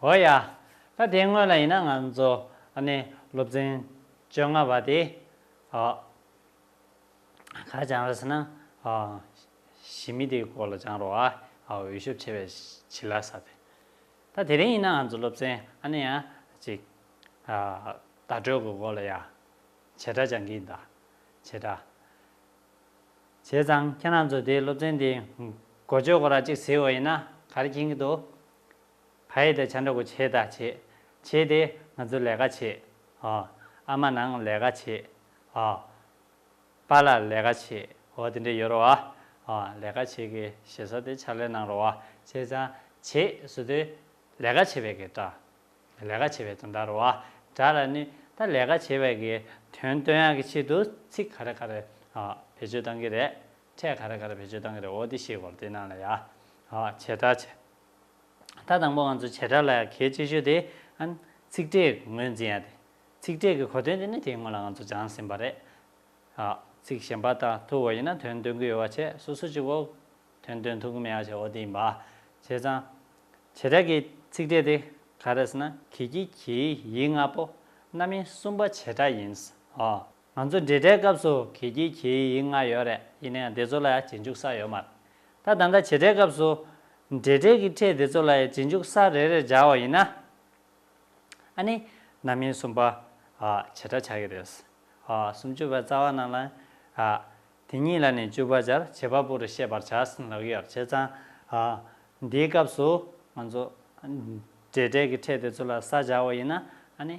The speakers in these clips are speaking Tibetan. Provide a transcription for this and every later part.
འོ་ཡ། ད་དེ་སྔོན་ལ་ཡིན་ན་ང་ཚོ་ནས་སློབ་ཚན་བཅོ་ལྔ་པ་དེ་ག་སྦྱང་ར་ཟེར་ན་ཞི་མི་དེའི་སྐོར་ལ་སྦྱང་རོགས་ཨ་འོས་ཤོབ་ཆེ་བས་བྱི་ལ་ས་དེ། ད་དེ་རིང་ཡིན་ན་ང་ཚོ་སློབ་ཚན་ཨ་ནེ་ཡ་ཅིག་བརྡ་སྤྲོད་གི་སྐོར་ལ་ཡ་བྱེད་སྒྲ་སྦྱང་གི་འདའ་བྱེད་སྒྲ་བྱས་ཙང་ཁྱེད་རང་ཚོ་དེ་སློབ་ཚན་དེའི་འགོ་བརྗོད་གོ་ར་ཅིག་ཟེར་འོ་ཡིན་ན་ག་རེ་མཁྱེན་གི་འདུག། བྷའི་ད་ཆ་འདྲ་གོ་བྱེད་ད་བྱེད་བྱེད་དེ་ང་ཚོ་ལས་ཀ་བྱེད་ཨོ་ཨ་མ་ནང་ལས་ཀ་བྱེད་ཨོ་པ་ལ་ལས་ཀ་བྱེད་ཨོ་དེ་འདྲ་ཡོད་རོ་ཨོ་ལས་ཀ་བྱེད་གི་བྱེད་ས་དེ་ཕྱག་ལས་གནང་རོ་ཨོ་བྱེད་ཙང་བྱེད་བཟོ་དེ་ལས་ཀ་བྱེད་པའི་གི་སྒྲ་ལས་ཀ་བྱེད་པའི་དོན་ད་རོ་ཨོ་སྒྲ་ལ་ནི་ད་ལས་ཀ་བྱེད་པའི་གི་དོན་སྟོན་ཡག་གི་ཆེད་དུ་ཚིག་ག་རེ་ག་རེ་ཨོ་བེད་སྤྱོད་གཏང་གི་རེད་ཕྲད་ག་རེ་ག་རེ་བེད་སྤྱོད་གཏང་གི་རེད་ཨོ་དེ་ཤེས་དགོས་རོ་དེ་གནང་ལ་ཡ་ཨོ་བྱེད་ད་བྱེད། ད་དང་པོ་ང་ཚོས་བྱེ་བྲག་ལ་གལ་ཆེ་ཤོས་དེ། ཚིག་ཕྲད་ངོས་འཛིན་ཡ་དེ། ཚིག་ཕྲད་ཀྱི་གོ་དོན་དེ་ནི་དེའི་སྔོན་ལ་ང་ཚོས་སྦྱངས་ཟིན་པ་རེད། ཚིག་གཞན་པ་དང་ཐུག་བ་ཡིན་ན་དོན་སྟོན་གི་ཡོད་བ་ཆེ་སོ་སོ་ཅིག་འོག་དོན་སྟོན་ཐུབ་ཀྱི་མེད་ཡ་ཆེ་འོག་དེ་ཡིན་པ། བྱས་ཙང། བྱེ་བྲག་གི་ཚིག་ཕྲད་དེ་ག་རེད་ཟེར་ན་གྷི་གྷི་གྷིའི་ཡིག་ལྔ་པོ་རྣམ་དབྱེ་གསུམ་པ་བྱེ་བྲག་ཡིན། ང་ཚོ་འབྲེལ་དྲའི་སྐབས་སུ་གིས་ཀྱིས་གྱིས་ཡིག་ལྔ་ཡོད་རེད་ཡིན་ན་ཡང་དེ་ཚོ་ལ་ཡང་གཅིག་འཇུག་ས་ཡོད་མ་རེད་ད་ད་ལྟ་བྱེད་སྒྲའི་སྐབས་སུ་འབྲེལ་དྲའི་གི་ཕྲད་དེ་ཚོ་ལ་ཡང་གཅིག་འཇུག་ས་རེ་རེར་སྦྱར་བ་ཡིན་ན་ཨ་ནི་རྣམ་དབྱེ་གསུམ་པ་བྱེད་སྒྲ་ཆགས་ཀྱི་རེད་སུམ་བཅུ་པའི་རྩ་བ་རྣམས་ལ་དེ་གཉིས་ལ་ནི་བཅུ་པ་སྦྱར་བྱེད་པ་པོ་རུ་ཤེས་པར་བྱ་ལགས་ཡོད་རེད་བྱས་ཙང་འདིའི་སྐབས་སུ་ང་ཚོ་འབྲེལ་དྲའི་གི་ཕྲད་དེ་ཚོ་ལ་ས་སྦྱར་བ་ཡིན་ན་ཨ་ནི།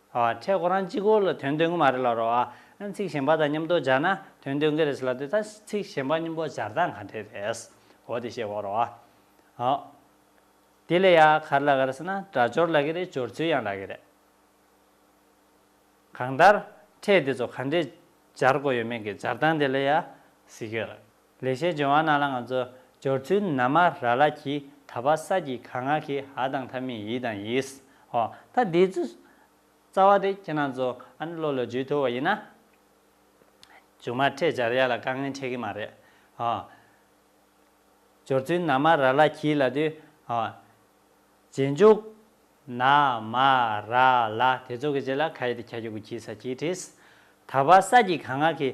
ཁྲེ་གོ་རང་གཅིག་གོ་ལ་དོན་སྟོན་གི་མ་རེད་ལ་རོ་ཨ། ཚིག་གཞན་པ་དང་མཉམ་དོ་སྦྱར་ན་དོན་སྟོན་གི་རེད་ཟེར་ལ་དེ་ལྟར་ཚིག་གཞན་པ་མཉམ་པོ་སྦྱར་སྟངས་ག་འདྲས་རེད། འོ་དེ་ཤེས་དགོས་རོ་ཨ། ཨོ། དེ་ལས་ཡ་ག་རེ་ལ་ག་རེ་ཟེར་ན་སྒྲ་སྦྱོར་ལ་གི་རེད་སྦྱོར་ཚུལ་ཡང་ལ་གི་རེད། གང་ལྟར་ཁྲེ་དེ་ཚོ་ག་འདྲས་སྦྱར་དགོས་ཡོད་མེད་ཀྱི་སྦྱར་སྟངས་དེ་ལ་ཡ་གཟིགས་ཡོད་རེད། ལེགས་བཤད་ལྗོན་དབང་རྣམས་ལ་ང་ཚོ་སྦྱོར་ཚུལ་ན་མ་ར་ལ་གྱིས་ད་བ་ས་ཀྱི་ག་ང་གི་ཨ་དང་ཐ་མི་ཡི་དང་ཡིས་ཨོ། ད་འདི་ཚོ་རྩ་བ་དེ་ཁྱེད་རང་ཚོ་ཨ་ནི་བློ་ལ་འཇུས་ཐུབ་བ་ཡིན་ན། ཅུང་མ་འཕྲད་སྦྱར་ཡ་ལ་དཀའ་ངལ་འཕྲད་གི་མ་རེད་ཨོ། སྦྱོར་ཚུལ་ན་མ་ར་ལ་གྱིས་ལ་དུས་ཨོ། རྗེས་འཇུག་ན་མ་ར་ལ་དེ་ཚོ་གི་རྗེས་ལ་ག་ཡི་དེ་གྱ་གྱུ་གུ་གྱིས་ས་གྱིས་བྲིས། ད་བ་ས་ཀྱི་ག་ང་གི་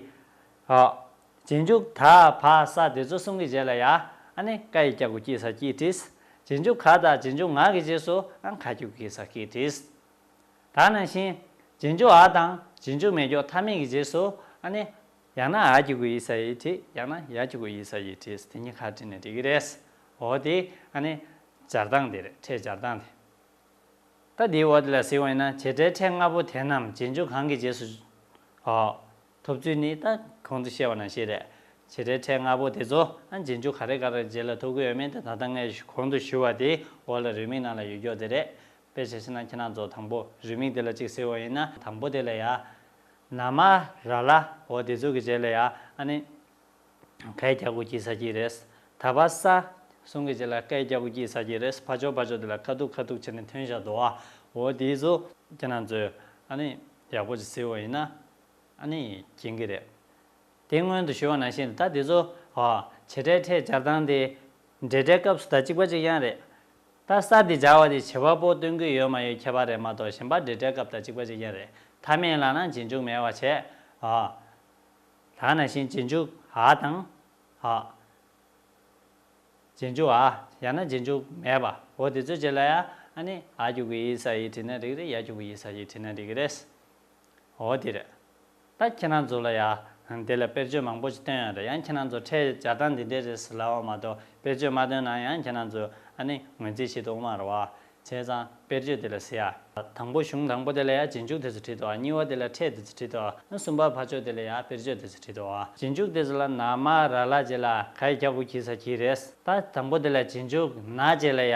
ཨོ། རྗེས་འཇུག་ད་བ་ས་དེ་ཚོ་གསུམ་གྱི་རྗེས་ལ་ཡ་ཨ་ནི་ཀ་ཡི་སྐྱ་གུ་ཀྱི་ས་ཀྱིས་བྲིས། རྗེས་འཇུག་ག་དང་རྗེས་འཇུག་ང་གི་རྗེས་སུ་ཨང་ཁ་ཀྱུ་ཀི་ས་ཀྱིས་བྲིས། ད་ནང་བཞིན། རྗེས་འཇུག་ཨ་དང་རྗེས་འཇུག་མེ་སྒྱོགས་མཐའ་མེད་ཀྱི་རྗེས་སུ་ཨ་ནི། ཡང་ན་ཨ་ཀྱུ་ཀུ་ཡི་ས་ཡིས་བྲིས་ཡང་ན་ཡ་ཀྱུ་ཀུ་ཡི་ས་ཡིས་བྲིས་དེ་གཉིས་ཁ་བྲིས་ནས་འབྲི་གི་རེད། འོ་དེ་ཨ་ནི། སྦྱར་སྟངས་དེ་རེད་ཕྲད་སྦྱར་སྟངས་དེ། ད་དེའི་འོ་དེ་ལ་གཟིགས་བ་ཡིན་ན་བྱེད་སྒྲའི་ཕྲད་ལྔ་པོ་དེ་རྣམས་རྗེས་འཇུག་གང་གི་རྗེས་སུ། ཨོ། ཐོབ་ཚུལ་ནི་ད་གོང་དུ་བཤད་པ་ན་ཤེས་རེག་བྱེ་བྲལ་ཕྲད་ལྔ་པོ་དེ་ཚོ་རྗེས་འཇུག་ག་རེ་ག་རེར་རྗེས་ལ་ཐོབ་གི་ཡོད་མིན་དེ་ད་ལྟ་ངས་གོང་དུ་ཞུས་བ་དེའི་འོག་ལ་རུས་མིང་ནང་ལ་ཡོད་མགྱོགས་དེ་རེད། དཔེ་བྱ་ཞེ་ན་ཁྱེད་རང་ཚོ་དང་པོ་རུས་མིང་དེ་ལ་གཅིག་ཟེར་བ་ཡིན་ན་དང་པོ་དེ་ལ་ཡ། ན། མ། ར། ལ། འོ་དེ་ཚོ་གི་རྗེས་ལ་ཡ། ཨ་ནི། ཀའི་རྒྱ་དགུ་སྐྱིད་ས་སྐྱིད་རེད། ད་བ་ས། གསུང་གི་རྗེས་ལ་ཀའི་རྒྱ་དགུ་སྐྱིད་ས་སྐྱིད་རེད་ཕ་ཆོག་ཕ་ཆོག་དེ་ལ་ཁ་ཐུག་ཁ་ཐུག་བྱས་ནས་ཐོན་བཞག་འདུག་ཨ་འོ་དེའི་ཚོ་ཁྱེད་རང་ཚོས་ཨ་ནི་ཡག་པོ་ཅིག་ཟེར་བ་ཡིན་ན་ཨ་ནི་སྦྱིན་གྱི་རེད། དེ་སྔོན་དུ་ཞུས་བ་ནང་བཞིན་དུ་ད་དེ་ཚོ། བྱེད་སྒྲའི་ཕྲད་སྦྱར་སྟངས་དེ། འབྲེལ་སྒྲའི་སྐབས་སུ་ད་གཅིག་པ་གཅིག་ཡང་རེད། ད་གསར་དེ་སྦྱར་བ་དེ་བྱེད་པ་པོ་སྟོན་གྱི་ཡོད་མ་ཡོད་ཁྱད་པར་རེད་མ་གཏོགས་གཞན་པ་འབྲེལ་སྒྲའི་སྐབས་ད་གཅིག་པ་གཅིག་ཡང་རེད། ད་མིན་ལགས་ན་སྦྱིན་འཇུག་མེད་བ་བྱས། ལགས་ན་བཞིན་སྦྱིན་འཇུག་ཨ་དང། སྦྱིན་འཇུག་ཨ་ཡང་ན་སྦྱིན་འཇུག་མེད་པ་འོ་དེ་ཚོའི་རྗེས་ལ་ཡང་ཨ་ནི་ཨ་རྒྱུག་གི་ཡིན་ས་ཡིས་བྲིས་ན་འགྲིག་རེད་ཡ་རྒྱུག་གི་ཡིན་ས་ཞེས་བྲིས་ན་འགྲིག་གི་རེད། འོ་དེ་རེད། ད་ཁྱེད་རང་ཚོ་ལ་ཡང་དེ་ལ་དཔེར་བརྗོད་མང་པོ་ཞིག་བཏོན་ཡོད་དོ་ཡང་ཁྱེད་རང་ཚོ་ཁྲལ་སྦྱར་སྟངས་འདི་འདྲས་རེད་ཟེར་ལབ་བ་མ་གཏོགས་དཔེར་བརྗོད་མ་བཏོན་ན་ཡང་ཁྱེད་རང་ཚོས་ཨ་ནི་ངོས་འཛིན་བྱེད་དུ་འོང་བར་བ། བྱས་ཙང་དཔེར་བརྗོད་དེ་ལ་ཟེར། དང་པོ་གཞུང་དང་པོ་དེ་ལ་ཡང་རྗེས་འཇུག་དེ་ཚོ་བྲིས་ཏོ་གཉིས་བ་དེ་ལ་ཁྲལ་དེ་ཚོ་བྲིས་ཏོ་གསུམ་པ་ཕ་ཆོས་དེ་ལ་ཡང་དཔེར་བརྗོད་དེ་ཚོ་བྲིས་ཏོ། རྗེས་འཇུག་དེ་ཚོ་ལ་ནག་མ་ར་ལ་བྱས་ལ་ག་ཡི་སྐྱག་ཁུ་གྱིས་ས་གྱིས་རེད། ད་དང་པོ་དེ་ལ་རྗེས་འཇུག་ནག་བྱས་ལ་ཡ།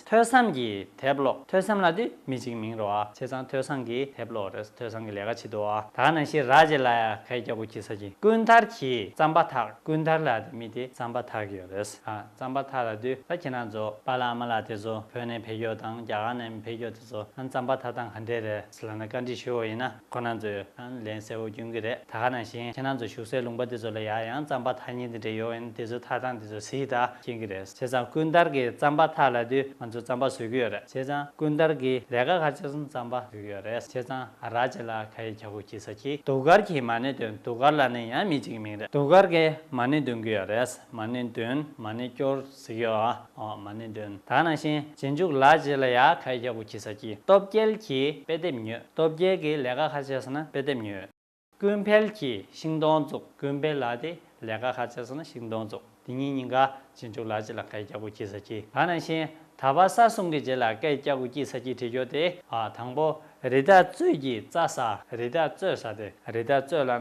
ཐོས་བསམ་གྱི་དེབ་ཀློག་ཐོས་བསམ་ལ་དེ་མི་གཅིག་མིང་རོ་ཨ་བྱེད་ཙང་ཐོས་བསམ་གྱི་དེབ་ཀློག་རེས་ཐོས་བསམ་གྱི་ལས་ཀ་བྱེད་དོ་ཨ་ད་ནང་ཤི་ར་བྱེད་ལ་ཡ་གས་སྐྱ་བོ་ཁྱི་ས་ཁྱི་ཀུན་ཐར་གྱིས་བརྩམས་པ་དག་ཀུན་ཐར་ལ་དེ་མི་དེ་བརྩམས་པ་དག་ཡོད་རེས་ཨ་བརྩམས་པ་དག་ལ་དུས་ད་ཁྱེད་རང་ཚོ་པ་ལ་མ་ལ་དེ་ཚོ་བོད་ནས་འཕེལ་རྒྱོག་དང་རྒྱ་གར་ནས་འཕེལ་རྒྱོག་དེ་ཚོ་རང་བརྩམས་པ་དག་དང་ག་འདྲེ་རེད། སི་ལ་ན་བཀའ་འདྲི་ཞུ་འོ་ཡིན་ན་ཁོ་ནང་ཚོས་ལན་གསལ་བོ་རྒྱུན་གི་རེད་ད་ག་ནང་བཞིན་ཁྱེད་ནང་ཚོ་ཞུགས་སའི་ལུང་པ་དེ་ཚོ་ལ་ཡག་ཡང་རྩམ་པ་ཐག་གཉིས་འདི་འདྲ་ཡོད་ཡིན་དེ་ཚོའི་ཐག་ཚང་དེ་ཚོ་ཟིག་ད་ཤེས་གི་རེད་བྱས་ཙང་ཀུན་དར་གི་རྩམ་པ་ཐག་ལ་དུས་ང་ཚོ་རྩམ་པ་ཟོས་གི་ཡོད་རེད་བྱས་ཙང་ཀུན་དར་གི་ལས་ཀ་ཁ་ཆེ་སོང་རྩམ་པ་ཟོས་གི་ཡོད་རེད་བྱས་ཙང་ཨ་རག་བྱས་ལ་ཁ་ཡི་གྱ་གུ་གྱི་ས་གྱིས་དུག་དཀར་གྱིས་མ་ཎི་འདོན་དུག་དཀར་ལ་ནི་ཡང་མི་གཅིག་མིང་རེད་དུག་དཀར་གིས་མ་ནི་འདོན་གི་ཡོད་རེད་མ་ནི་འདོན་མ་ནི་སྐྱོར། ཟེར་གྱི། འོ་མ་ནི་འདོན་དག་ནང་བཞིན་རྗེས་འཇུག་ལག་རྗེས་ལ་ཡ་ག་ཡིག་གཅིག་པུ་གྱིས་ས་ཀྱི་སྟོབས་རྒྱལ་གྱིས་དཔེ་དེབ་ཉོས་སྟོབས་རྒྱལ་གྱིས་ལས་ཀ་ཁ་བྱས་སོང་ན་དཔེ་དེབ་ཉོས། ཀུན་འཕེལ་གྱིས་ཤིང་སྡོང་བཙུགས་ཀུན་འཕེལ་ལགས་དེས་ལས་ཀ་ཁ་བྱས་སོང་ན་ཤིང་སྡོང་བཙུགས་དེ་གཉིས་གཉིས་ཀ་རྗེས་འཇུག་ལག་རྗེས་ལ་ག་ཡིག་གཅིག་པུ་གྱིས་ས་ཀྱི་དག་ནང་བཞིན་ད་བར་ས་གསུམ་གྱི་རྗེས་ལ་ཀ་ཡིག་གཅིག་པུ་གྱིས་ས་ཀྱི་བྲིས་ཆོག་དེ་དང་པོ། རི་དྭགས་གཙོད་ཀྱི་རྩ་ཟ། རི་དྭགས་གཙོད་ཟ་སྟེ་རི་དྭགས་གཙོད་ལ་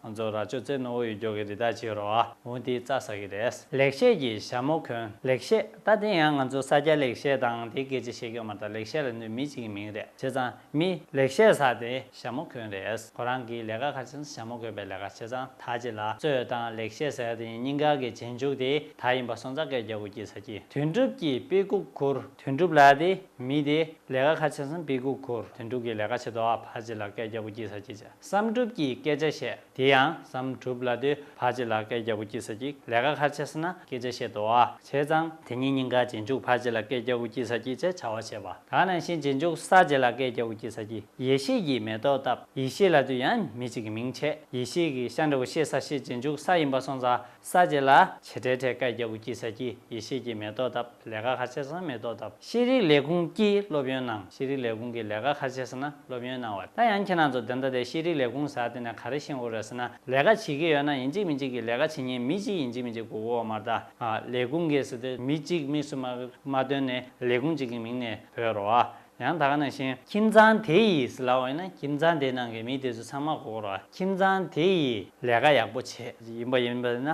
ན་ཛོ་ར་ཅོ་ཙེ་ནོ་བོ་ཡུལ་མགྱོགས་ཀྱི་རི་དྭགས་ཆེའི་རོ་ཨ་འུན་དེའི་རྩ་ཟ་གི་རེད། ལེགས་བཤད་ཀྱི་ཞྭ་མོ་གོན། ལེགས་བཤད་ད་དེ་ཡང་ང་ཚོ་ས་སྐྱ་ལེགས་བཤད་དང་དེ་སྐད་ཅེས་བཤད་ཀྱི་ཡོད་མ་ད་ལེགས་བཤད་ལ་ནུས་མི་གཅིག་གི་མིང་རེད་བྱས་ཙང་མི། ལེགས་བཤད་ཟ་སྟེ་ཞྭ་མོ་གོན་རེད། ཁོ་རང་གིས་ལས་ཀ་ཁ་ཆེ་ན་ཞྭ་མོ་གོན་པའི་ལས་ཀ་བྱས་ཙང་ད་ཅི་ལ་གཙོད་དང་ལེགས་བཤད་ཟེར་ཡ་དེ་གཉིས་སྙིང་ག་གི་རྗེས་འཇུག་དེ་ད་ཡིན་པ་སོང་ཙང་སྐད་རྒྱག་དགོས་ཀྱི་ཟ་ཀྱི་དུས་འགྲུབ་ཀྱི་དཔེ་ཁུག་ཁུར། དོན་གྲུབ་ལགས་དེ་མི་དེ་ལས་ཀ་ཁ་ཆེ་སོང་སྤི་གུག་ཁུར་དོན་གྲུབ་ཀྱི་ལས་ཀ་བྱེད་དོ་ཨ་ཕ་ཅི་ལ་སྐད་རྒྱ་པོ་སྐྱིད་ས་སྐྱིད་བསམ་གྲུབ་ཀྱི་སྐད་ཆ་བཤད་དེ་ཡང་བསམ་གྲུབ་ལ་དེ་ཕ་ཅི་ལ་སྐད་རྒྱ་པོ་སྐྱིད་ས་སྐྱིད་ལས་ཀ་ཁ་ཆེ་སོང་ན་སྐད་ཆ་བཤད་དོ་ཨ་བྱས་ཙང་དེ་གཉིས་སྙིང་ག་རྗེས་འཇུག་ཕ་ཅི་ལ་སྐད་རྒྱ་པོ་སྐྱིད་ས་སྐྱིད་ཅེས་བྱ་བ་བྱས་པ་དག་ནང་བཞིན་རྗེས་འཇུག་ས་ཅི་ལ་སྐད་རྒྱ་པོ་སྐྱིད་ས་སྐྱིད་ཡེ་ཤེས་ཀྱི་མེ་ཏོག་བཏབ་ཡེ་ཤེས་ལ་དུས་ཡང་མི་གཅིག་གི་མིང་ཆད་ཡེ་ཤེས་ཀྱི་ཤ་འདྲ་བོ་ཤེས་ས་ཤེས་རྗེས་འཇུག་ས་ཡིན་པ་སོང་ཙང་ས་བཅད་ལ། བྱེ་བྲལ་ཐད་ཀར་རྒྱལ་བུ་སྐྱིད་ས་ཀྱིས་ཡེ་ཤེས་ཀྱི་མེ་ཏོག་བཏབ་ལས་ཀ་ཁ་ཆེ་ས་ན་མེ་ཏོག་བཏབ་ཤེས་རིག་ལས་ཁུངས་ཀྱིས་སློབ་ཡོན་གནང་ཤེས་རིག་ལས་ཁུངས་ཀྱིས་ལས་ཀ་ཁ་ཆེ་ས་ན་སློབ་ཡོན་གནང་བ་ད་ཡང་ཁྱེད་རང་ཚོ་དེ་འདྲ་དེ་ཤེས་རིག་ལས་ཁུངས་ཟ་དེ་ནས་ག་རེ་ཤེས་འོ་རེད་ཟེར་ན་ལས་ཀ་བྱེད་ཀྱི་ཡོད་ན་ཡིན་གཅིག་མིན་གཅིག་གིས་ལས་ཀ་བྱེད་ཉེན་མི་གཅིག་ཡིན་གཅིག་མིན་གཅིག་གིས་འོ་མ་ད་ལས་ཁུངས་ཀྱིས་ཟེར་དེ་མི་གཅིག་དམིགས་སུ་མ་མ་བཏོན་ནས་ལས་ཁུངས་གཅིག་གི་མིང་ནས་བོས་རོགས་ཨ། ཡང་དག་ན་བཞིན། ཁྱིམ་ཚང་དེ་ཡིས་ལ་འོས་ན་ཁྱིམ་ཚང་དེའི་ནང་གི་མི་དེ་ཚོ་ཚང་མ་བསྐོ་རོགས་ཨ་ཁྱིམ་ཚང་དེ་ཡིས་ལས་ཀ་ཡག་པོ་བྱེད་ཡིན་པ་ཡིན་པ་ན་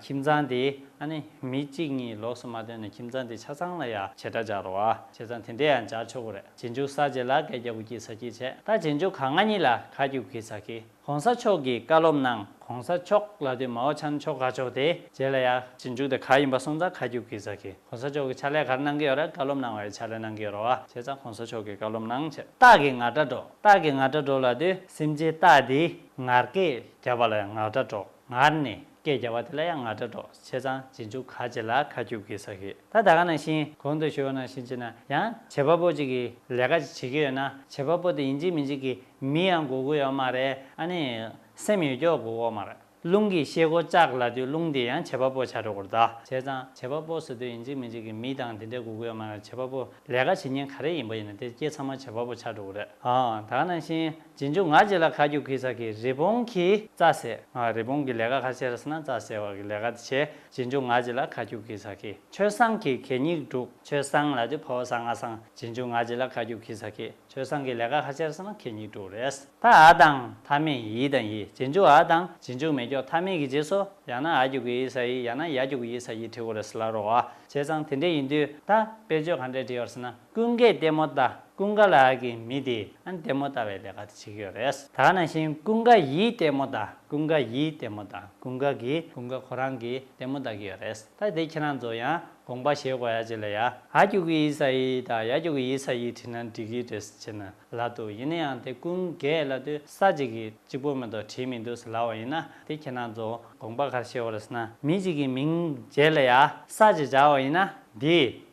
ཁྱིམ་ཚང་དེས་ཨ་ནི་མི་གཅིག་གཉིས་ལོགས་སུ་མ་བཏོན་ན་ཁྱིམ་ཚང་དེ་ཆ་ཚང་ལ་ཡང་བྱེད་སྒྲ་སྦྱར་རོགས་ཨ་བྱེད་ཚང་དེ་འདྲས་ཡང་སྦྱར་ཆོག་གི་རེད་བྱེད་འཇུག་ས་བྱེད་ལ་གད་རྒྱ་བུ་སྐྱིད་ས་སྐྱིད་བྱེད་ད་བྱེད་འཇུག་ག་ང་གཉིས་ལ་ག་རྒྱུ་གི་ས་སྐྱིད། གོང་ས་མཆོག་གིས་བཀའ་སློབ་གནང། གོང་ས་མཆོག་ལ་དུས་མའོ་ཆན་མཆོག་ག་ཆོག་དེ། རྗེས་ལ་ཡག་ཅིག་འཇུག་དེ་ག་ཡིན་པ་སོང་ཙང་ཁ་རྒྱུག་གི་ཟ་གི། གོང་ས་མཆོག་གི་ཕྱག་ལས་གར་གནང་གི་ཡོད་རེད་བཀའ་སློབ་གནང་བའི་ཕྱག་ལས་གནང་གི་ཡོད་རོ་བ་བྱས་ཙང་གོང་ས་མཆོག་གི་བཀའ་སློབ་གནང་བྱས། སྟག་གི་ངར་སྒྲ་སྒྲོག་སྟག་གི་ངར་སྒྲ་སྒྲོག་ལ་དུས་སེམས་ཅན་སྟག་དེའི་ངར་སྐད་རྒྱབ་པ་ལ་ཡང་ངག་སྒྲ་སྒྲོག་ངར་ནི། སྐད་རྒྱག་པ་དེ་ལ་ཡང་ང་དྲ་གྲོགས་ཆེ་ཚང་རྗེས་འཇུག་ག་ཅེས་ལ་ཁ་སྐྱུག་གི་ཟ་གི་ད་ད་ག་ནང་བཞིན་གོང་དུ་ཞུ་བ་ནང་བཞིན་བྱེད་ན་ཡང་བྱེད་པ་པོ་ཅིག་གི་ལས་ཀ་ཅིག་བྱེད་ཀྱི་ཡོད་ན་བྱེད་པ་པོ་དེ་ཡིན་གཅིག་མིན་གཅིག་གི་མི་ཡང་དགོས་དགོས་ཡོད་མ་རེད་ཨ་ནི་སེམས་ཡོད་ཀྱོག་དགོས་དགོས་མ་རེད་རླུང་གི་ཤེལ་སྒོ་ལྕགས་ལ་དུས་རླུང་དེ་ཡང་བྱེད་པ་པོ་བྱ་གྲོགས་གོར་ད་བྱས་ཙང་བྱེད་པ་པོ་ཟེར་དུས་ཡིན་གཅིག་མིན་གཅིག་གི་མི་དང་དེ་འདྲས་དགོས་གི་ཡོད་མ་རེད་བྱེད་པ་པོ་ལས་ཀ་བྱེད་ཉིན་ག་རེ་ཡིན་པ་ཡིན་ན་དེ་སྐྱེས་ཚང་མ་བྱེད་པ་པོ་བྱ་གྲོགས་གོ་རེད་ཨ་ད་ག་ནང་བཞིན། རྗེས་འཇུག་ངག་གཅིག་ལ་ཁ་རྒྱུག་གིས་ས་ཀྱི་རི་བོང་གིས་རྩྭ་བསལ། རི་བོང་གི་ལས་ཀ་ཁ་ཤས་ར་བསྲིང་ན་རྩྭ་བསལ་བ་གི་ལས་ཀ་དེ་བྱས། རྗེས་འཇུག་ངག་གཅིག་ལ་ཁ་རྒྱུག་གིས་ས་ཀི་ཆོལ་བསང་གིས་གད་སྙིགས་སྒྲུག། ཆོལ་བསང་ལ་དེ་ཕོ་བ་བསང་ང་བསང། རྗེས་འཇུག་ངག་གཅིག་ལ་ཁ་རྒྱུག་གིས་ས་ཀི་ཆོལ་བསང་གི་ལས་ཀ་ཁ་ཤས་ར་བསྲིང་ན་གད་སྙིགས་སྒྲུག་རེད། ད་ཨ་དང་ཐ་མི་ཡི་དང་ཡི་རྗེས་འཇུག་ཨ་དང་རྗེས་འཇུག་མེ་སྒྱོགས་ཐ་མི་གི་རྗེས་སུ་ཡང་ན་ཨ་རྒྱུག་གི་ཡིས་ས་ཡིས་ཡང་ན་ཡ་རྒྱུག་གི་ཡིས་ས་ཡིས་བྲི་དགོས་རེད་ལ་རོ། བྱས་ཙང་དེ་འདྲས་ཡིན་དུས་ད་དཔེར་བརྗོད་ག་འདྲས་བྲི་ཡོད་ར་བསྲིང་ན། ཀུན་དགའི་ལྟད་མོ་ལྟ་ཀུན་དགའ་ལགས་ཀྱི་མི་དེས་ལྟད་མོ་ལྟ་བའི་ལས་ཀ་དེ་བྱེད་ཀྱི་ཡོད་རེད། ད་ནང་བཞིན་ཀུན་དགའ་ཡིས་ལྟད་མོ་ལྟ་ཀུན་དགའ་ཡིས་ལྟད་མོ་ལྟ་ཀུན་དགའ་གིས་ཀུན་དགའ་ཁོ་རང་གིས་ལྟད་མོ་ལྟ་གི་ཡོད་རེད་ད་དེ་ཁྱེད་རང་ཚོ་ཡང་དགོངས་པ་བཞེས་དགོས་ཡ་ཅི་ལ་ཡ་ཧ་ཀྱུ་ཀི་ཡིས་ས་ཡིས་དང་ཡ་ཀྱུ་ཀི་ཡིས་ས་ཡིས་བྲིས་ན་འགྲིག་གི་རེད་ཅེ་ན་ལ་འདུག་ཡིན་ན་ཡང་དེ་ཀུན་དགའི་ལ་དུ་ས་གཅིག་གིས་གཅིག་པོ་མེད་དོ་བྲིས་མི་འདུག་ཟེར་ལ་བ་ཡིན་ན་དེ་ཁྱེད་རང་ཚོ་དགོངས་པ་གར་བཞེས་དགོས་རེད་ཟེར་ན་མི་གཅིག་གི་མིང་བརྗེས་ལ་ཡ་ས་ཅེ་བྱ་བ་ཡིན་ན་འདིས་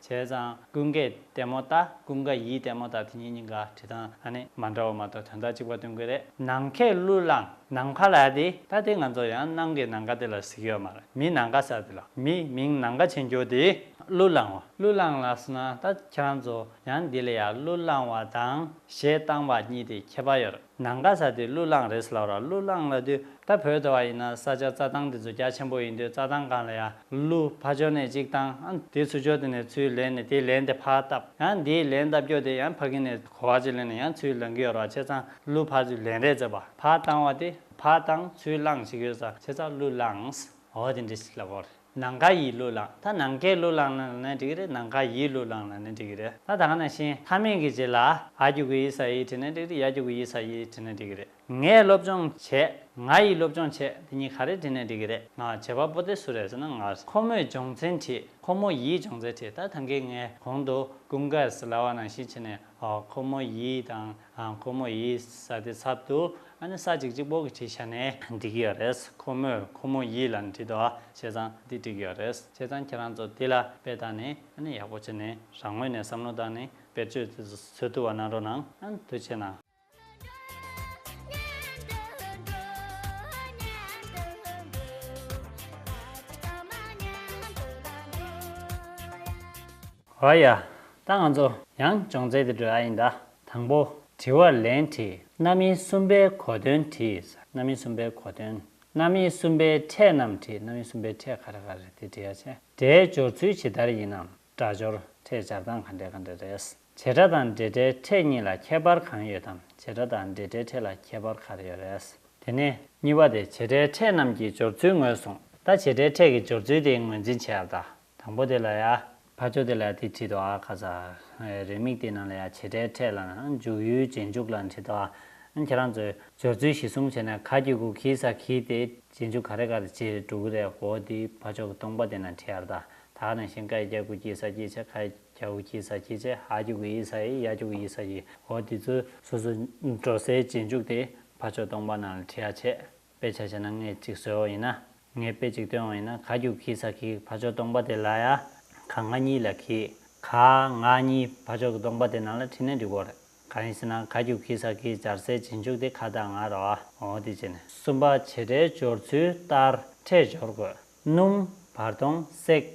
བྱས་ཙང་ཀུན་དགའི་ལྟད་མོ་ལྟ་ཀུན་དགའ་ཡིའི་ལྟད་མོ་ལྟ་དེ་གཉིས་གཉིས་ཀ་བྲིས་སྟངས་ཨ་ནི་མ་འདྲ་བ་མ་གཏོགས་དོན་དག་གཅིག་པ་སྟོན་གི་རེད། ནང་མཁས་གླུ་བླངས་ནང་ཕ་ལ་དེ། ད་ལྟའི་ང་ཚོ་ཡང་ནང་གི་ནང་དགའ་དེ་ལ་གཟིགས་ཡོད་མ་རེད་མི་ནང་དགའ་ས་དེ་ལ་མི་མིང་ནང་དགའ་བྱེད་འགྱོ་དེ་གླུ་བླངས་བ། གླུ་བླངས་ལ་སོང་ན་ད་ཁྱེད་རང་ཚོ་ཡང་འདི་ལ་ཡང་གླུ་བླངས་བ་དང་གཞས་བཏང་བ་གཉིས་དེ་ཁྱད་པར་ཡོད་རེད། ནང་ག་ས་དེ་གླུ་བླངས་རེད་ལབ་ར་གླུ་བླངས་ལ་དུས་ད་བོད་དུ་བ་ཡིན་ན་ས་ཆ་རྩྭ་ཐང་དེ་ཚོ་རྒྱ་ཆེན་པོ་ཡིན་དུས་རྩྭ་ཐང་གང་ལ་ཡ་གླུ་ཕ་ཅོ་ནས་གཅིག་བཏང་ཨ་དེ་ཚུ་ཅོ་དེ་ནས་ཚུའི་ལན་ནས་དེ་ལན་དེ་ཕ་བཏབ་ཡ་དེའི་ལན་བཏབ་ཀྱོ་དེ་ཡ་ཕ་གི་ནས་གོ་བ་ཅིག་ལན་ནས་ཡ་ཚུའི་ལན་གི་ཡོ་ར་བ་ཆེ་ཚང་གླུ་ཕ་ཚུའི་ལན་རེད་ཟེར་བ་ཕ་བཏང་བ་དེ་ཕ་བཏང་ཚུའི་བླངས་ཞིག་ཡོད་ས་ཆེ་ཚང་གླུ་བླངས་ཨོ་དེ་འདྲི་ཞིག་ལབ་བོ་རེད། ནང་ག་ཡིས་གླུ་བླངས་ད་ནང་གས་གླུ་བླངས་ན་ནི་འགྲིག་གི་རེད་ནང་ག་ཡིས་གླུ་བླངས་ན་ནི་འགྲིག་གི་རེད་ད་ད་ག་ནང་བཞིན་མཐའ་མིང་གི་རྗེས་ལ་ཨ་རྒྱུག་གི་ཡིས་ས་ཡིས་བྲིས་ན་འགྲིག་རེད་ཡ་རྒྱུག་གི་ཡིས་ས་ཡིས་བྲིས་ན་འགྲིག་གི་རེད་ངས་སློབ་སྦྱོང་བྱས་ང་ཡིས་སློབ་སྦྱོང་བྱས་དེ་གཉིས་ག་རེ་བྲིས་ན་འགྲིག་གི་རེད་ང་བྱེད་པ་པོ་དེ་སུ་རེད་ཟེར་ན་ང་རེད་ཁོ་མོས་སྦྱོང་ཚན་བྲིས་ཁོ་མོ་ཡིས་སྦྱོང་ཚན་བྲིས་ད་ད་གས་ངས་གོང་དུ་ཀུན་དགའ་ཟླ་བ་ནང་བཞིན་བྱས་ནས་ཨོ་ཁོ་མོ་ཡིས་དང་ཁོ་མོ་ཡིས་ས་དེའི་ཚབ་ཏུ་ཨ་ནེ་ས་གཅིག་གཅིག་པོ་གི་བྲིས་ཤ་ནས། འདི་གི་ཡོད་རེད། ཁོ་མོས་ཁོ་མོ་ཡིས་ལ་འདྲི་དོ། བྱས་ཙང་འདི་འགྲིག་ཡོད་རེད། བྱས་ཙང་ཁྱེད་རང་ཚོ་འདི་ལ་དཔེ་བལྟ་ནས་ཨ་ནེ་ཡག་པོ་བྱེད་ནས་རང་ངོས་ནས་བསམ་བློ་བཏང་ནས་བེད་སྤྱོད་བཟོད་ཐུབ་བ་གནང་རོགས་གནང། ཨང་དུ་བྱས་ན། ཨོ་ཡ། ད་ང་ཚོ་ཡང་སྦྱོང་རྩལ་དེ་སྒྲོལ་ཨ་ཡིན་ད། དང་པོ། དྲི་བར་ལན་དྲིས་རྣམ་སྨིན་གསུམ་པའི་གོ་དོན་དྲིས། རྣམ་སྨིན་གསུམ་པའི་གོ་དོན། རྣམ་སྨིན་གསུམ་པའི་ཕྲད་རྣམས་དྲིས་རྣམ་སྨིན་གསུམ་པའི་ཕྲད་ག་རེ་ག་རེ་དེ་དྲི་ཡ་ཆེ། སྒྲའི་སྦྱོར་ཚུལ་ཇི་ལྟར་ཡིན་ནམ་སྒྲ་སྦྱོར་ཕྲད་སྦྱར་སྟངས་ག་འདྲའི་ག་འདྲ་རེད། བྱེད་སྒྲ་དང་སྒྲའི་སྒྲའི་ཕྲད་གཉིས་ལ་ཁྱད་པར་གང་ཡོད་དམ་བྱེད་སྒྲ་དང་སྒྲའི་སྒྲའི་ཕྲད་ལ་ཁྱད་པར་ག་རེ་ཡོད་རེད། དེ་ནས། གཉིས་པ་དེ་བྱེད་སྒྲའི་ཕྲད་རྣམས་ཀྱི་སྦྱོར་ཚུལ་ངོས་བཟུང། ད་བྱེད་སྒྲའི་ཕྲད་ཀྱི་སྦྱོར་ཚུལ་དེ་ངོས་འཛིན་བྱེད་ཨ་བལྟ། དང་པོ་དེ་ལ་ཡ། ཕ་ཆོས་དེ་ལ་དེ་བྲིས་ཏོ་ཨ་ཁ་ས། རེ་མིག་དེ་རྣམས་ལ་ཡ་བྱེད་སྒྲའི་ཕྲད་ལ་ན་འཇུག་ཡུལ་རྗེས་འཇུག་ལ་བྲིས་ཏོ་ཨ། ཁྱེད་རང་ཚོས་སྦྱོར་ཚུལ་གཞི་གསུམ་བྱས་ན་ཁ་ཀྱི་དགུ་ཁྱིའི་ས་ཁྱིའི་དེ་རྗེས་འཇུག་ག་རེ་ག་རེ་བྱེད་འགྲོ་གི་རེད་ཧོ་དེ་ཕ་ཆོས་ཀྱི་སྟོང་པ་དེ་ན་བྲིས་ཨར་ད་ད་ཨ་ན་ཤིང་ཀ་ཡི་སྐྱ་དགུ་ཁྱིའི་ས་ཁྱིའི་ཆ་ཁ་ཡི་སྐྱ་དགུ་ཁྱིའི་ས་ཁྱིའི་ཆ་ཧ་ཀྱི་དགུ་ཡི་ས་ཡི་ཡ་ཀྱི་དགུ་ཡི་ས་ཡི་ཧོ་དེ་ཚོའི་སོ་སོའི་འགྲོ་སའི་རྗེས་འཇུག་དེ་ཕ་ཆོས་སྟོང་པ་ན་ལ་བྲིས་ཨ་བྱེད། དཔེ་ཆ་བྱས་ན་ངས་གཅིག་བཟོས་འོང་ཡིན་ན། ངས་དཔེ་གཅིག་སྟོན་འོང་ཡིན་ན་ག་རྒྱུག་གིས་ས་ཁིག་ཕ་ཅོག་སྟོང་པ་དེ་ལ་ཡ། ག་ང་གཉིས་ལ་གིས། ག་ང་གཉིས་ཕ་ཅོག་གི་སྟོང་པ་དེ་ནང་ལ་ཁྲིད་ནས་འགྲིག་གོ་རེད། ག་ཡིན་ཟེར་ན་ག་རྒྱུག་གིས་ས་ཁིག་སྦྱར་སའི་བྱེད་འཇུག་དེ་ག་དང་ང་ར་བ་འོ་དེ་བྱས་ནས། གསུམ་པ་བྱེད་སྒྲའི་སྦྱོར་ཚུལ་ལྟར་ཕྲད་སྦྱོར་དགོས། སྣུམ། བར་སྟོང། བསྲེག།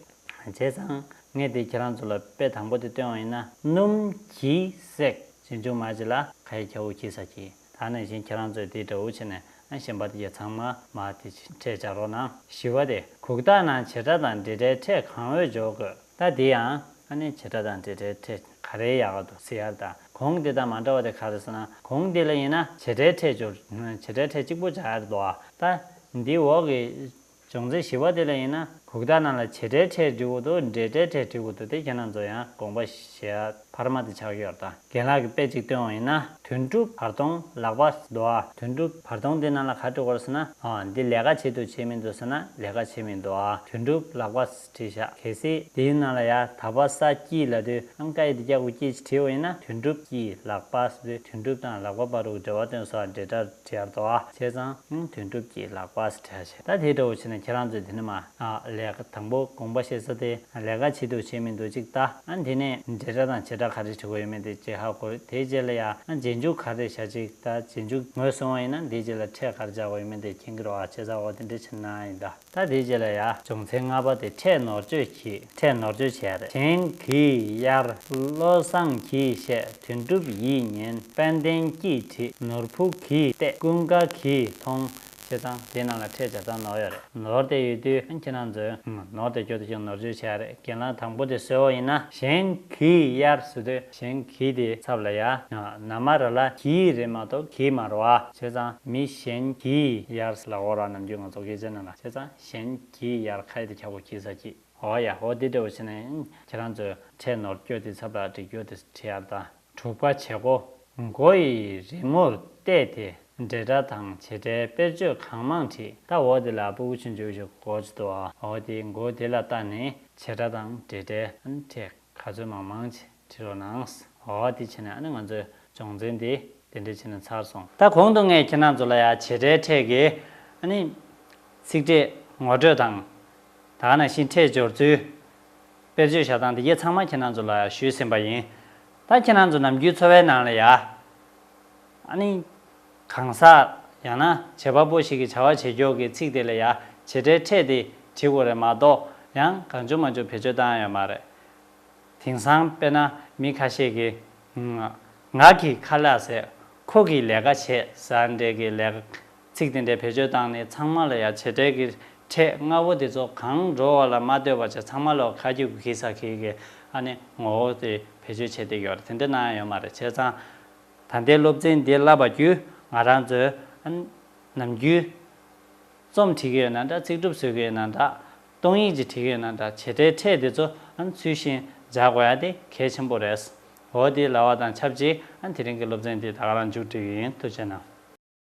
བྱས་ཙང། ངས་དེ་ཁྱེད་རང་ཚོ་ལ་དཔེ་དང་པོ་དེ་སྟོན་བ་ཡིན་ན། སྣུམ། གྱིས། བསྲེག། བྱས་ཅུང་མ་ཕྱི་ལ་ཁ་ཡི་ཁྱའུ་གྱིས་ས་གྱིས་ད་ནས་བཞིན་ཁྱེད་རང་ཚོས་དེའི་དགྲ་བོ་བྱས་ནས་གཞན་པ་དེ་ཡ་ཚང་མ་མ་དེ་འཕྲད་བྱ་རོགས་གནང། བཞི་བ་དེ་གུག་རྟགས་ནང་བྱེད་སྒྲ་དང་འབྲེལ་སྒྲའི་ཕྲད་གང་འོས་འཇོག་དགོས་ད་དེ་ཡང་ཨ་ནེ་བྱེད་སྒྲ་དང་འབྲེལ་སྒྲའི་ཕྲད་ག་རེ་ཡག་ག་འདུག CR དང་གུང་དེ་དང་མ་འདྲ་བ་དེ་ག་རེ་ཟེར་ན་གུང་དེ་ལ་ཡིན་ན་བྱེད་སྒྲའི་ཕྲད་བྱོ་བྱེད་སྒྲའི་ཕྲད་གཅིག་པོ་བྱ་རེ་དོ་ཨ་ད་འདི་འོག་གི། བྱུང་ཚེ་ཞི་བ་དེ་ལས་ཡིན་ན། གུག་རྟགས་རྣམས་ལ་བྱེད་སྒྲའི་ཕྲད་བྲི་འོ་དོ་སྒྲའི་སྒྲའི་ཕྲད་བྲི་འོ་དོ་དེ་ཁྱེད་རྣམས་ཚོ་ཡང་དགོངས་པ་བཞེས་ཨ་བར་མ་དེ་ཕྱག་གཡོར་དང་རྒན་ལགས་ཀྱི་དཔེ་ཅིག་སྟོན་འོང་ཡིན་ན་དུད་འགྲོ་བར་སྟོང་ལག་པ་རྡོ་ཨ་དུད་འགྲོ་བར་སྟོང་དེ་རྣམས་ལ་ག་དྲི་བར་ཟེར་ན་འོ་འདི་ལས་ཀ་བྱེད་དུ་བྱེད་མིན་འདུག་ཟེར་ན་ལས་ཀ་བྱེད་མིན་འདུག་ཨ་དུད་འགྲོ་ལག་པ། བྲེ་ཤ་གས་སེ། དེའི་ནང་ལ་ཡ་ད་པ་ས་སྐྱིད་ལ་དུ་ཨང་ཀ་ཡེ་དུ་ཀྱ་གུ་སྐྱེས་ཀྱི་ཁྲེའུ་ཡིན་ན་དོན་གྲུབ་ཀྱིས་ལག་པ་སི་དུ་དོན་གྲུབ་དང་ལག་པ་པ་རུ་འབྲེལ་བ་སྟོན་སོགས་འབྲེལ་སྒྲ་སྦྱར་དོ་ཨ་བྱས་ཙང་ཡང་དོན་གྲུབ་ཀྱིས་ལག་པ་སི་ཁྲ་བྱས་ད་དེའི་དྲ་བོ་ཆེ་ན་ཁྱེད་རང་ཚོས་དེ་ནི་མ་ཨ་ལས་ཀ་དང་པོ་དགོངས་པ་བཤད་ས་དེ་ལས་ཀ་བྱེད་འདུག་བྱེད་མི་འདུག་ཅིག་ད་ཨ་དེ་ནས་འབྲེལ་སྒྲ་དང་བྱེད་སྒྲ་ག་རེ་བྲི་དགོས་ཡོད་མེད་དེ་བྱེད་ཧ་གོ་དེའི་རྗེས་ལ་ཡ་ཨ་རྗེས་འཇུག་ག་རེ་བྱ་ཅིག་ད་རྗེས་འཇུག་ངོས་བཟུང་བ་ཡིན་ན་དེའི་རྗེས་ལ་ཕྲད་ག་རེ་སྦྱར་དགོས་ཡོད་མེད་དེ་མཁྱེན་གྱི་རོགས་ཨ་བྱས་ཙང་འོ་དེ་འདྲས་བྱེད་ན་ཡིན་ད། ད་དེའི་རྗེས་ལ་ཡ། བྱུང་ཚེ་ལྔ་པ་དེ་ཕྲད་ནོར་བཅོས་གྱིས་ཕྲད་ནོར་བཅོས་བྱས་རེད་དྲན་གྱིས་གཡར། བློ་བཟང་གྱིས་བཤད་དོན་གྲུབ་ཡིས་ཉན་དཔལ་ལྡན་སྐྱིད་བྲིས་ནོར་བུ་གིས་བལྟས་ཀུན་དགའ་གིས་མཐོང། བྱས་ཙང་དེ་རྣམས་ལ་ཕྲད་བྱས་ཙང་ནོར་ཡོད་རེད་ནོར་དེ་ཡོད་དུས་ཁྱེད་རང་ཚོས་ནོར་དེ་སྐྱོར་དུས་ཀྱང་ནོར་བཅོས་བྱས་རེད་གྱེན་ལངས་དང་པོ་དེ་གསོལ་བ་ཡིན་ན་གཞན་གྱིས་གཡར་བཟོས་དུས་གཞན་གྱིས་དེ་ཚབ་ལ་ཡར་ན་མ་ར་ལ་གྱིས་རེད་མ་གཏོགས་གྱིས་མ་ར་བ་བྱས་ཙང་མི་གཞན་གྱིས་ཡར་ལ་འོ་ར་ནམ་རྒྱུན་ང་ཚོ་སྐད་ཆ་ནང་ལ་བྱས་ཙང་གཞན་གྱིས་ཡར་ཁ་ཡི་དེ་ཁྱག་པོ་གྱིས་ས་གྱིས་འོ་ཡ་འོ་དེ་འདྲ་བོ་བྱས་ན་ཡང་ཁྱེད་རང་ཚོས་ཁྲལ་ནོར་བསྐྱོད་དེ་ཚབ་ལ་སྒྲིག་སྐྱོར་དེ་ཁྲི་ཡར་དང་དྲུག་པ་བྱེད་སྒོ་མགོ་ཡི་རི་མོར་བལྟས་དེ་འབྲེལ་སྒྲ་དང་བྱེད་སྒྲའི་དཔེར་བརྗོད་གང་མང་བྲིས་ད་འོ་དེ་ལ་སྤུ་གུ་ཆུན་འཇུག་ཞིག་གོ་ཅི་ཏོ་འོ་དེའི་མགོ་དེ་ལ་བལྟ་ནས་བྱེད་སྒྲ་དང་འབྲེལ་སྒྲའི་ཁྲལ། ག་ཚོད་མང་མང་བྱས་དྲིས་རོགས་གནང། ཨོ་ཨོ་དེ་བྱས་ནས་ཨ་ནི་ང་ཚོའི་སྦྱོང་ཚན་དེ་དེ་འདྲས་བྱས་ནས་ཚར་སོང། ད་གོང་དུ་ངས་ཁྱེད་རྣམས་ཚོ་ལ་ཡང་བྱེད་སྒྲའི་ཕྲད་ཀྱི་ཨ་ནི། ཚིག་ཕྲད་ངོ་སྤྲོད་དང། ད་ནང་བཞིན་ཕྲད་སྦྱོར་ཚུལ། དཔེར་བརྗོད་བྱ་སྟངས་དེ་དབྱེ་ཚང་མ་ཁྱེད་རྣམས་ཚོ་ལ་ཡང་ཞུས་ཟིན་པ་ཡིན། ད་ཁྱེད་རྣམས་ཚོ་ནམ་རྒྱུན་འཚོ་བའི་ནང་ལ་ཡང། ཨ་ནི། གང་ཟག་ཡང་ན་བྱེད་པ་པོ་ཞིག་གིས་བྱ་བ་བྱེད་མགྱོགས་ཀྱི་ཚིག་དེ་ལ་ཡ་བྱེད་སྒྲའི་ཕྲད་དེ་བྲིས་དགོས་རེད་མ་གཏོགས་ཡང་གང་བྱུང་མ་བྱུང་བེད་སྤྱོད་བཏང་ཡོད་མ་རེད། དེང་སང་དཔེར་ན་མི་ཁ་ཤས་ཀྱིས། ང་གིས་ཁ་ལག་ཟས། ཁོ་གིས་ལས་ཀ་བྱས་ཟ་འདྲེ་གི་ལས། ཚིག་དེ་འདྲའི་བེད་སྤྱོད་བཏང་ནས་ཚང་མ་ལ་ཡ་བྱེད་སྒྲའི་གི་ཕྲད་ལྔ་བོ་དེ་ཚོ་གང་འགྲོ་བ་ལ་མ་ལྟོས་པར་བྱས་ཚང་མ་ལ་ཁ་རྒྱུག་གི་གི་ཟ་གི་གི་ཨ་ནི་ངོ་བོ་དེ་བེད་སྤྱོད་བྱས་ཏེ་ཡོད་རེད་དེ་འདྲ་གནང་ཡོད་མ་རེད་བྱས་ཙང། ད་ལྟའི་སློབ་ཚན་འདི་བསླབ་པ་བརྒྱུད་ང་རང་ཚོའི། ནམ་རྒྱུན། རྩོམ་འབྲི་གི་ཡོད་ན་འདྲ་ཚིག་གྲུབ་བཟོས་གི་ཡོད་ན་འདྲ། སྟོང་ཡིག་ཅིག་བྲིས་གི་ཡོད་ན་འདྲ་བྱེད་སྒྲའི་ཕྲད་དེ་ཚོ་ཚུལ་བཞིན་སྦྱར་དགོས་ཡ་དེ་གལ་ཆེན་པོ་རེད། འོ་དེ་ལ་བ་དང་ཆབས་ཅིག་དེ་རིང་གི་སློབ་ཚན་འདི་ད་ག་རང་མཇུག་སྒྲིལ་གི་ཡིན་ཐུགས་ཆེ་གནང།